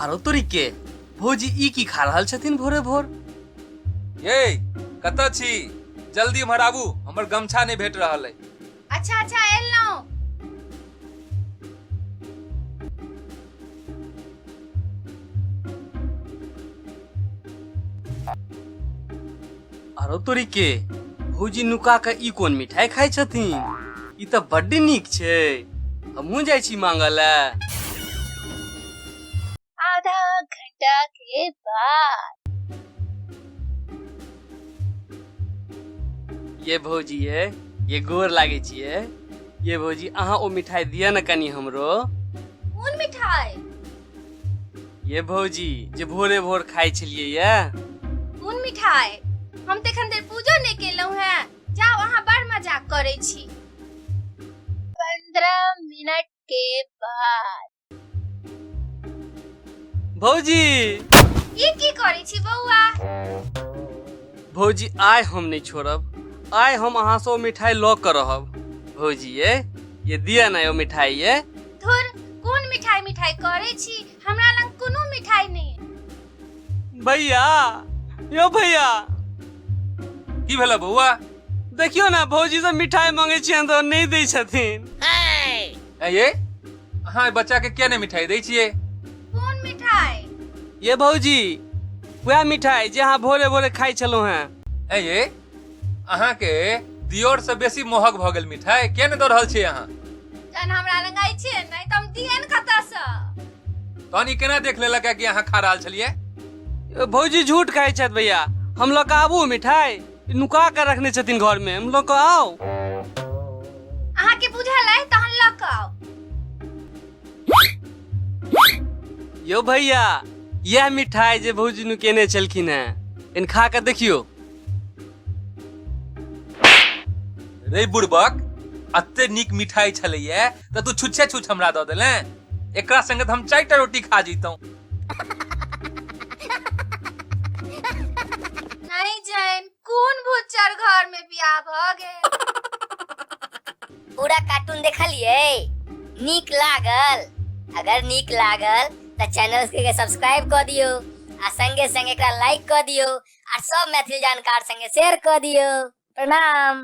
आरो तोरी के भौजी ई की खा रहल छथिन भोरे भोर ये कतऽ छी जल्दी एम्हर आबू हमर गमछा नहि भेट रहल अइ अच्छा अच्छा एलहुँ आरो तोरी के भौजी नुका के ई कोन मिठाई खाइ छथिन ई तऽ बड्ड नीक छै हमहूँ जाइ छी मांगऽ लए आधा घंटा के बाद ये भौजी ये ये गोर लागे छिए ये भौजी अहाँ ओ मिठाई दिया न कनी हमरो कोन मिठाई ये भौजी जे भोरे भोर खाइ छलिए ये कोन मिठाई हम तऽ एखन धरि पूजो नहि केलहुँ हेँ जाउ अहाँ बड़ मजाक करै छी पंद्रह मिनट के बाद भौजी ई की करै छी बौआ भौजी आइ हम नहि छोड़ब आइ हम अहाँ से ओ मिठाई लऽ कऽ रहब भौजी ये ये दिया ना ओ मिठाई ये धुर कोन मिठाई मिठाई करै छी हमरा लग कोनो मिठाई नहि भैया यो भैया की भेला बौआ देखियो ना भौजी से मिठाई मांगे छियन तो नहीं दै छथिन ऐ ये अहाँ एहि बच्चा के किया नहि मिठाई दै छियै कोन मिठाई ये भौजी वह मिठाई जे अहाँ भोरे भोरे खाई छलहुँ हैं ऐ ये अहाँ के दियोर से बेसी मोहक भ गेल मिठाई के ने दऽ रहल छी अहाँ जहन हमरा लग आई छै नहि तऽ हम दियन कतऽ सँ तहन ई केना देख लेलक कि अहाँ खा रहल छलियै भौजी झूठ कहै छथि भैया हम लऽ कऽ आबू मिठाई नुका कऽ रखने छथिन घर में हम लऽ कऽ आउ अहाँ के बुझल अइ तहन लऽ कऽ आउ यौ भैया यह मिठाई जे भौजी नुकेने छलखिन हैं इन खा कऽ देखियो रे बुड़बक अते नीक मिठाई छलैया तऽ तू छुच्छे छुछ हमरा दऽ देले एकरा संगे तऽ हम चारि टा रोटी खा जैतौं नहीं जाइन कौन भूचर घर में बियाह भ गए पूरा कार्टून देखलिए नीक लागल अगर नीक लागल तो चैनल के सब्सक्राइब कर दियो आ संगे संगे एकरा लाइक कर दियो और सब मैथिली जानकार संगे शेयर कर दियो प्रणाम